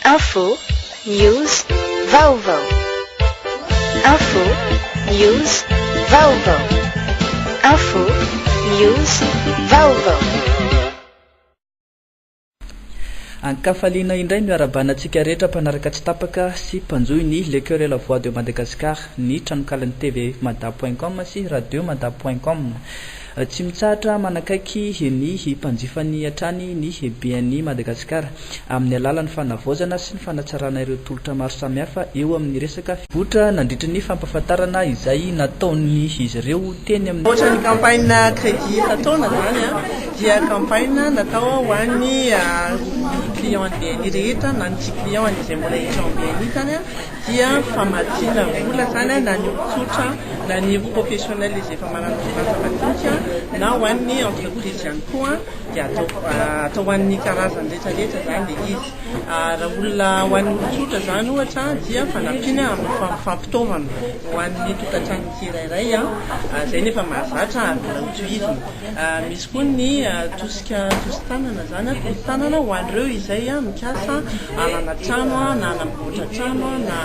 Info, news, vaovao. Info, news, vaovao. Info, news, vaovao. Ankafaliana indray ny miarabana antsika rehetra mpanaraka tsy tapaka sy mpanjohy ny Le Coeur et la Voix de Madagascar, ny tranonkalan'ny TV Mada point com sy Radio Mada point com. Tsy mitsahatra manakaiky ny mpanjifany hatrany ny be an'i Madagasikara, amin'ny alalan'ny fanavaozana sy ny fanatsarana ireo tolotra maro samihafa eo amin'ny resaka fivotra nandritry ny fampahafantarana izay nataon'izy ireo teny amin'ny. Ohatra ny campagne crédit efa taona izany dia campagne natao ho an'ny clients an'ny BNI rehetra na ny tsy clients an'izay mbola hiditra ao amin'ny BNI izany. dia famatsiana vola izany na ny olon-tsotra na ny roa professionnels izay efa manana orinasa madinika na ho an'ny entreprise ihany koa dia atao atao ho an'ny karazany rehetra rehetra izany dia izy raha olona ho an'ny olon-tsotra izany ohatra dia fanampiana amin'ny fampitaovana ho an'ny tokantrano tsirairay izay nefa mahazatra mbola ho tohizina Misy koa ny tosika tosi-tanana, izany hoe tosi-tanana ho an'ireo izay mikasa hanana trano na hanamboatra trano na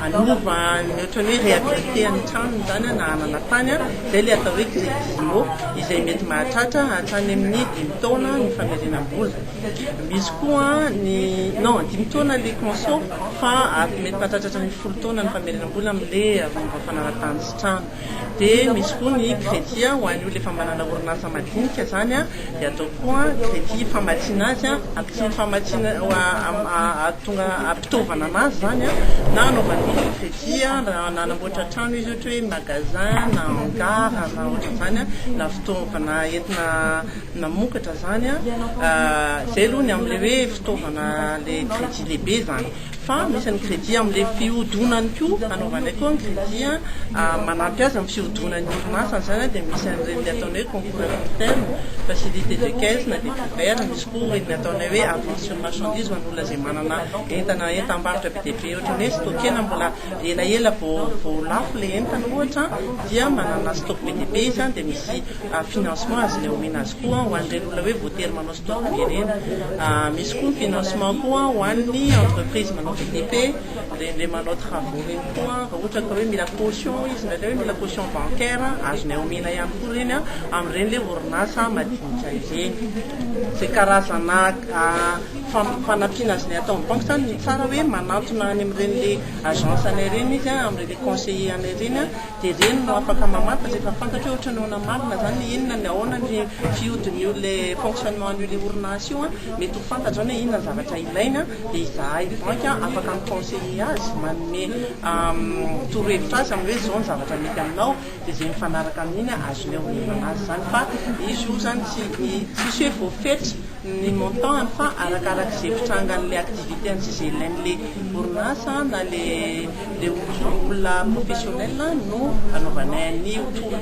hanova ny ohatran'ny hoe réhabiliter ny tranony izany na hanana tany, izay ilay atao hoe crédit IMO izay mety mahatratra hatrany amin'ny dimy taona ny famerenam-bola. Misy koa ny, non, dimy taona ilay conso fa mety mahatratra hatrany amin'ny folo taona ny famerenam-bola amin'ilay momba fanana-tany sy trano. Dia misy koa ny crédit ho an'ny olona efa manana orinasa madinika izany an, dia atao koa crédit famatsiana azy an, ampiana famatsiana ahatonga ampitaovana an'azy izany an, na anaovana micro crédit an, na hanamboatra trano izy ohatra hoe magasin na hangar na ohatr'izany an, na fitaovana entina namokatra izany an, izay aloha ny amin'ilay hoe fitaovana ilay crédit lehibe izany. Fa misy ny crédit amin'ilay fihodonany koa, anaovanay koa ny crédit manampy azy amin'ny fihodonan'ny orinasany, izany dia misy an'ireny ataonay hoe concours à court terme, facilité de caisse na dépôt vert, misy koa ireny ataonay hoe avance sur marchandise ho an'olona izay manana entana entam-barotra be dia be ohatran'ny hoe stockena mbola elaela vao vao lafo ilay entana ohatra dia manana stock be dia be izy dia misy financement azonay omena azy koa ho an'ireny olona hoe voatery manao fotoam-pirenena. Misy koa ny financement koa ho an'ny entreprise manao VTP, ireny manao travaux ireny koa raha ohatra ka hoe mila caution izy ndraindray hoe mila caution bancaire, azonay omena ihany koa ireny amin'ireny ilay orinasa madinika ireny. Izay karazana fanampiana azonay atao amin'ny banky izany ny tsara hoe manantona any amin'ireny ilay agence anay ireny izy amin'ireny ilay conseiller anay ireny. Dia ireny no afaka mamantatra rehefa fantatra hoe ohatran'ny ahoana marina izany ny inona ny ahoana ny fihodin'io ilay fonctionnement an'io ilay orinasa io an, mety ho fantatra izany hoe inona ny zavatra ilainy an, dia izahay banky an afaka mi-conseiller azy, manome torohevitra azy amin'ny hoe izao ny zavatra mety aminao, dia izay mifanaraka amin'iny an azonay omenana azy izany, fa izy io izany tsy tsisy hoe voafetra ny montant-ny fa arakarak'izay fitrangan'ilay activité-ny sy izay ilain'ilay orinasa an na ilay dia olona professionnel no anaovanay an'io tour.